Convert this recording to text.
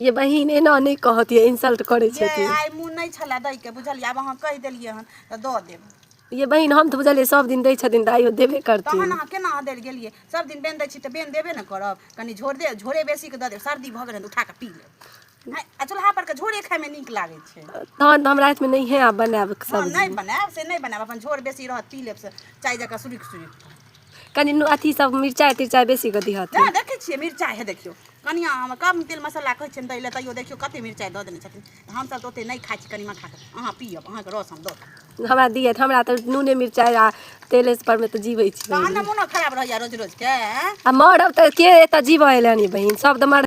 ये बहिन एना नहि कहत ये इंसल्ट करै छै ये आइ मुँह नहि छलए दैके बुझलियै आब अहाँ कहि देलियै हन तऽ दऽ देब ये बहिन हम तऽ बुझलियै सब दिन दै छथिन तऽ आइयो देबे करथिन तहन अहाँ केना अहाँ देल गेलियै सब दिन बेन दै छी तऽ बेन देबे ने करब कनि झोर दे झोरे बेसीके दऽ देब सर्दी भऽ गेल हन तऽ उठा कऽ पी लेब आइ- आ चूल्हा पर के झोरे खायमे नीक लागै छै तहन तऽ हम रातिमे नहिए आब बनायब हँ सब्जी नहि बनायब से नहि बनायब अपन झोर बेसी रहत पी लेब से चाय जकाँ सुरुख सुरुख कनि नु- अथी सब मिरचाइ तिरचाइ बेसी कऽ दिहत जा देखै छियै मिरचाइ हे देखियौ कनिया हम कम तेल मसाला कहै छियनि दै लए तैयो देखियौ कते मिरचाइ दऽ देने छथिन हमसभ तऽ ओते नहि खाइ छी कनिमा खा कऽ अहाँ पियब अहाँके रस हम दऽ देब। हमरा दिहत हमरा तऽ नूने मिरचाइ आ तेले पर मे तऽ जीबै छी तहन ने मोनो खराब रहैया रोज रोज के आ मरब तऽ के एतऽ जीबऽ एलनि बहिन सब तऽ मर